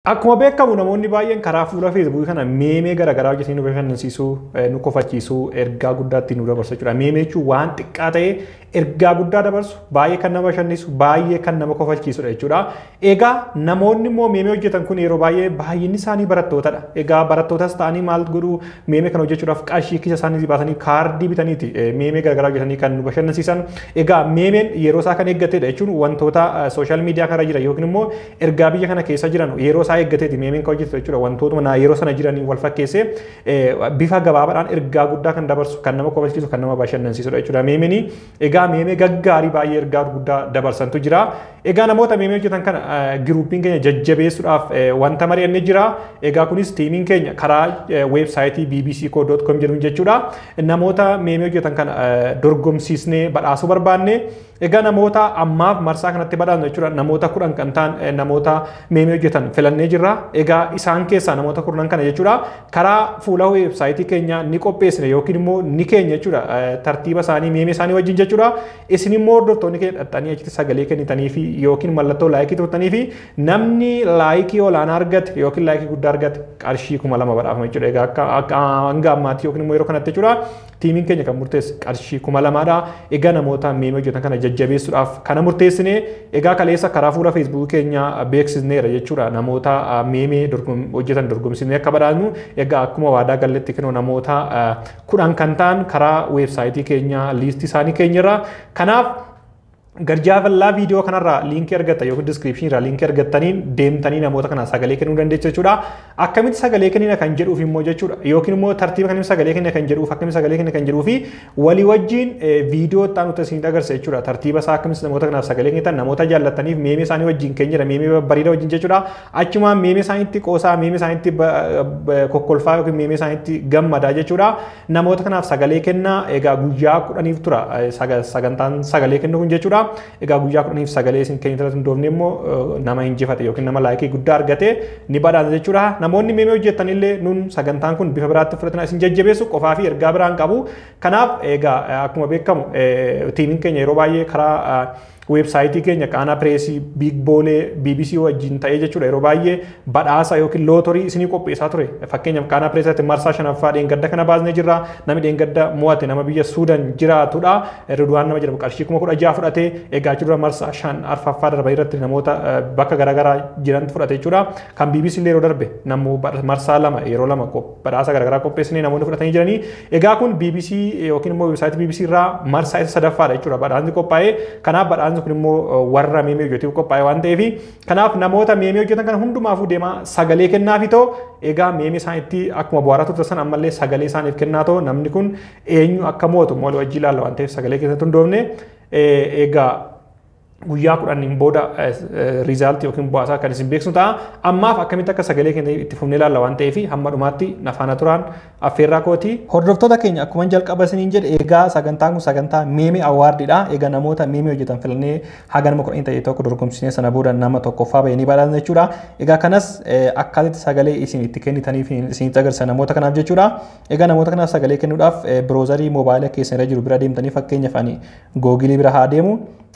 Akkuma beekamu namoonni baay'een karaa fuula feesbuukii kana meemee garaagaraa hojjetanii nu bashannansiisuu, nu kofachiisuu, ergaa guddaa ittiin nu dabarsu jechuudha. Meemee jechuun waan xiqqaa ta'ee ergaa guddaa dabarsu, baay'ee kan nama bashannisu, baay'ee kan nama kofalchiisudha jechuudha. Egaa namoonni immoo meemee hojjetan kun yeroo baay'ee baay'inni isaanii barattootadha. Egaa barattootas ta'anii maal godhu meemee kana hojjechuudhaaf qarshii kisa isaanii baasanii kaardii bitaniiti meemee garaagaraa hojjetanii kan nu bashannansiisan. Egaa meemeen yeroo isaa kan eeggatedha jechuun wantoota sooshaal miidiyaa kanarra jira yookiin immoo ergaa biyya kana keessa jiran yeroo isaa eeggateeti meemiin kan hojjetu jechuudha wantootuma naa yeroo sana jiraniin wal fakkeessee eh, bifa gabaabaadhaan ergaa guddaa kan dabarsu kan nama kofalchiisu kan nama bashannansiisudha jechuudha meemiin egaa meemee gaggaarii baay'ee ergaa guddaa dabarsantu jira egaa namoota meemee hojjetan kana eh, giruupiin keenya jajjabeessuudhaaf eh, wanta mari'anne jira egaa kunis tiimiin keenya karaa eh, weebsaayitii bbc.com jedhuun jechuudha namoota meemee hojjetan kana eh, dorgomsiisnee badhaasuu barbaanne Egaa namoota ammaaf marsaa kanatti badhaasnu jechuudha namoota kudhan kan ta'an eh, namoota meemee hojjetan filannee jirra. Egaa isaan keessaa namoota kurnan kana jechuudha karaa fuula weebsaayitii keenya ni qopheessine yookiin immoo ni keenya jechuudha eh, tartiiba isaanii meemee isaanii wajjin jechuudha. Isin immoo hordoftoonni keenya dhaxxanii achitti sagalee kennitanii fi yookiin mallattoo laayikii tuqtanii fi namni laayikii olaanaa argate yookiin laayikii guddaa argate qarshii kuma lama badhaafama jechuudha. Egaa akka akka hanga ammaatti yookiin immoo yeroo kanatti jechuudha Tiimiin keenya kan murteesse qarshii kuma lamaadha. Egaa namoota meemii hojjetan kana jajjabeessuudhaaf kana murteessine. Egaa kaleessa karaa fuula feesbuukii keenya beeksisneera jechuudha. Namoota meemii hojjetan dorgomsiisnee akka badhaasnu. Egaa akkuma waadaa galletti kinoo namoota kudhan kan ta'an karaa weebsaayitii keenya liistii isaanii keenyerra. Kanaaf Garjaafallaa viidiyoo kanarraa liinkii argattan yookiin diskiripshinii irraa liinkii argattaniin deemtanii namoota kana sagalee kennuu dandeessu jechuudha. Akkamitti sagalee kennina kan jedhuuf immoo jechuudha. Yookiin immoo tartiiba kamiin sagalee kennina kan jedhuuf akkamitti sagalee kennina kan jedhuu fi walii wajjin viidiyoo itti aanutti isin agarsiisa jechuudha. Tartiiba isaa akkamitti namoota kanaaf sagalee kennitan namoota jaallattaniif meemee isaanii wajjin kennina meemee bareeda wajjin jechuudha. Achumaan meemee isaaniitti qoosaa meemee isaaniitti kokkolfaa yookiin meemee isaaniitti gammadaa jechuudha. Namoota kanaaf sagalee kenna egaa guyyaa kudhaniif tura sagantaan sagalee kennu kun jechuudha. Egaa guyyaa kudhaniif sagalee isin kennitan hundoofne immoo nama injifate yookiin nama laayikii guddaa argate ni badhaasa jechuudha. Namoonni meemee hojjetan illee nun sagantaan kun bifa biraatti fudhatina isin jajjabeessu qofaa fi ergaa biraan qabu. Kanaaf egaa akkuma beekamu tiimiin keenya yeroo baay'ee karaa weebsaayitii keenya qaanaa pireesii biig boolee bbc wajjin ta'ee jechuudha yeroo baay'ee badhaasa yookiin lootorii isinii qopheessaa ture fakkeenyaaf qaanaa pireesiitti marsaa shanaffaa dheengadda kana baasnee jirra namni dheengadda mo'ate nama biyya suudan jiraatudha riduwaan nama jedhamu qarshii kuma kudha jaha fudhatee eegaachuu dura marsaa shan arfaffaa darba irratti namoota bakka garaagaraa jiran fudhate jechuudha kan bbc illee yeroo darbe namu marsaa lama yeroo lama badhaasa garaagaraa qopheessinee namoonni fudhatanii jiranii Egaa kun BBC yookiin immoo websaayitii BBC irraa marsaa isa sadaffaadha jechuudha badhaasni qophaa'ee kanaaf badhaasni kun immoo warra meemii hojjetuuf qophaa'e waan ta'eef kanaaf namoota meemii hojjetan kana hundumaafuu deemaa sagalee kennaafi ta'u egaa meemii isaan itti akkuma bu'aaraa turte san ammallee sagalee isaaniif kennaa ta'u namni kun eenyu akka mootu moolii wajjii ilaalla waan ta'eef sagalee keessatti hundoofne egaa guyyaa kudhaniin booda riizaaltii yookiin bu'aasaa kan isin beeksisnu ta'a. Ammaaf akkamitti akka sagalee keenya itti fufnee ilaalla waan ta'eef hamma dhumaatti nafaana turaan affeerraa kooti. Hordoftoota keenya akkuma jalqaba isiniin jedhe egaa sagantaan kun sagantaa meemee awwaardiidha. Egaa namoota meemee hojjetan filannee haga nama kudhanii ta'e tokko dorgomsiisnee sana booda nama tokkoffaa ba'ee ni badhaasna jechuudha. Egaa kanas akkaatitti sagalee isin itti kennitaniif isinitti agarsiisa namoota kanaaf jechuudha. Egaa namoota kanaaf sagalee kennuudhaaf biroozarii moobaayila keessan irra jiru bira deemtanii fakkeenyaaf ani Googilii bira haa deemu.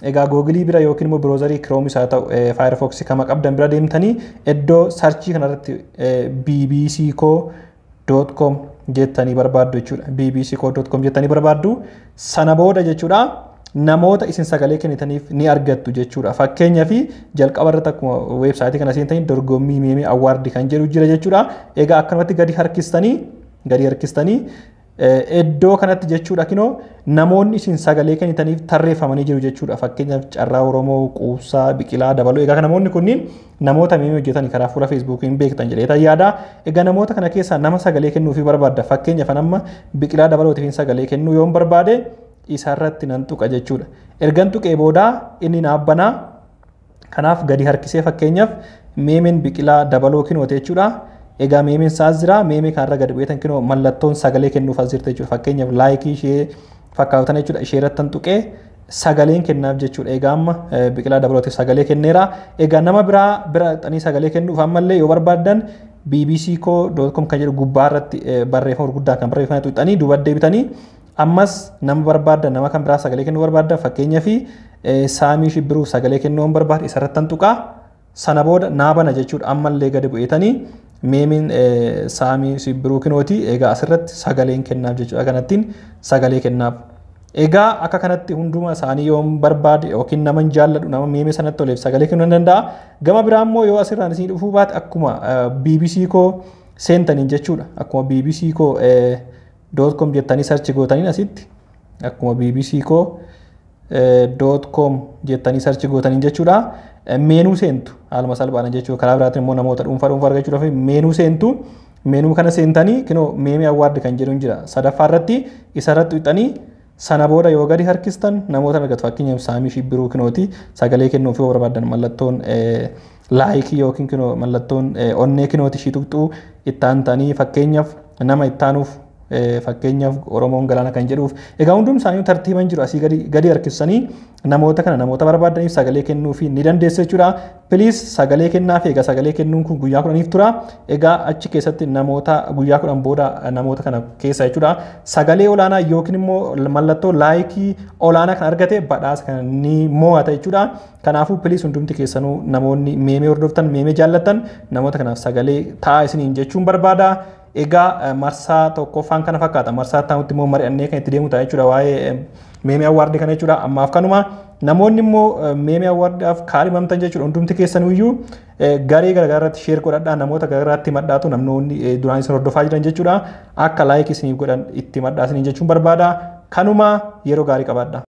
Egaa googilii bira yookiin immoo biroozarii kiroomis haa ta'u faayirfoksii kama qabdan bira deemtanii iddoo sarchii kanarratti bbc koo doot koom jettanii barbaaddu jechuudha. bbc koo doot koom jettanii barbaaddu sana booda jechuudha namoota isin sagalee kennitaniif ni argattu jechuudha. Fakkeenyaaf jalqaba irratti akkuma weebsaayitii kana seentanii dorgommii meemee awwaardi kan jedhu jira jechuudha. Egaa akkanumatti gadi harkistanii gadi harkistanii Iddoo kanatti jechuudha kinoo namoonni isin sagalee kennitaniif tarreeffamanii jiru jechuudha. Fakkeenyaaf Carraa Oromoo, Quubsaa, Biqilaa, Dabaloo. Egaa namoonni kunniin namoota miimii hojjetan karaa fuula Feesbuukii hin beektan jedhee ta'e yaada. Egaa namoota kana keessaa nama sagalee kennuufii barbaadda. Fakkeenyaaf amma Biqilaa Dabalootiif sagalee kennuu yoon barbaade isarratti nan tuqa jechuudha. Ergan tuqee booda inni naaf banaa Kanaaf gadi harkisee fakkeenyaaf meemeen biqilaa dabaloo kinoo ta'e jechuudha. Egaa meemeen isaas jira. Meemee kanarra gadi bu'eetan kinoo mallattoon sagalee kennuuf as jirti jechuudha. Fakkeenyaaf laayikii ishee fakkaatan jechuudha. Ishee irratti tan tuqee sagaleen kennaaf jechuudha. Egaa amma biqilaa dabalootiif sagalee kenneera. Egaa nama biraa bira xanii sagalee kennuuf ammallee yoo barbaaddan bbc.com kan jedhu gubbaa irratti barreeffama gurguddaan kan barreeffame tuqxanii duuba deebitanii Ammas nama barbaadda nama kan biraa sagalee kennuu barbaadda fakkeenyaaf saamii shibbiruu sagalee kennuu hin barbaadu isarratti tan tuqaa sana booda naa bana jechuudha ammallee gadi bu'eetanii meemiin saamii shibbiruu kinooti egaa asirratti sagaleen kennaaf jechuudha kanattiin sagalee kennaaf. Egaa akka kanatti hunduma isaanii yoo barbaade yookiin nama hin jaalladhu nama meemee sanatti toleef sagalee kennuu ni danda'a. Gama biraa immoo yoo asirraan isin dhufuu baate akkuma BBC koo seentaniin jechuudha akkuma BBC koo doot koom jettanii sarchi gootaniin asitti akkuma bbc koo doot koom jettanii sarchi gootaniin jechuudha. Meenuu seentu haaluma salphaadhaan jechuudha. Karaa biraatiin immoo namoota dhuunfaa dhuunfaa argachuudhaaf meenuu seentu. Meenuu kana seentanii kinoo meemee awwaardi kan jedhu jira. Sadaffaa irratti isa irratti wixanii Sana booda yoo gadi harkistan namoota argatu fakkeenyaaf saamii fi biruu kinooti sagalee kennuuf yoo barbaadan mallattoon laayikii yookiin kinoo mallattoon onnee kinooti ishii tuqxuu itti aantanii fakkeenyaaf nama itti aanuuf fakkeenyaaf Oromoon galaana kan jedhuuf egaa hundum isaanii tartiiban jiru asii gadi gadi harkissanii namoota kana namoota barbaadaniif sagalee kennuufi ni dandeessu jechuudha. Piliis sagalee kennaaf egaa sagalee kennuun kun guyyaa kudhaniif tura. Egaa achi keessatti namoota guyyaa kudhan booda namoota kana keessa jechuudha. Sagalee olaanaa yookiin immoo mallattoo laayikii olaanaa kan argate badhaasa kana ni mo'ata jechuudha. Kanaafuu piliis hundumti keessanuu namoonni meemee hordoftan meemee jaallattan namoota kanaaf sagalee ta'a isiniin jechuun barbaada. Egaa marsaa tokkoffaan kana fakkaata. Marsaa itti immoo mari'annee kan itti deemu ta'a jechuudha waa'ee meemee awwaardii kana jechuudha. Ammaaf kanuma namoonni immoo meemee awwaardaaf kaadhimamtan jechuudha hundumti keessaniyyuu garee garaagaraa irratti sheer godhadhaa namoota garaagaraatti madhaatu namoonni duraan isin hordofaa jiran jechuudha. Akka laayik isiniif godhan itti madhaa isiniin jechuun barbaada. Kanuma yeroo gaarii qabaadha.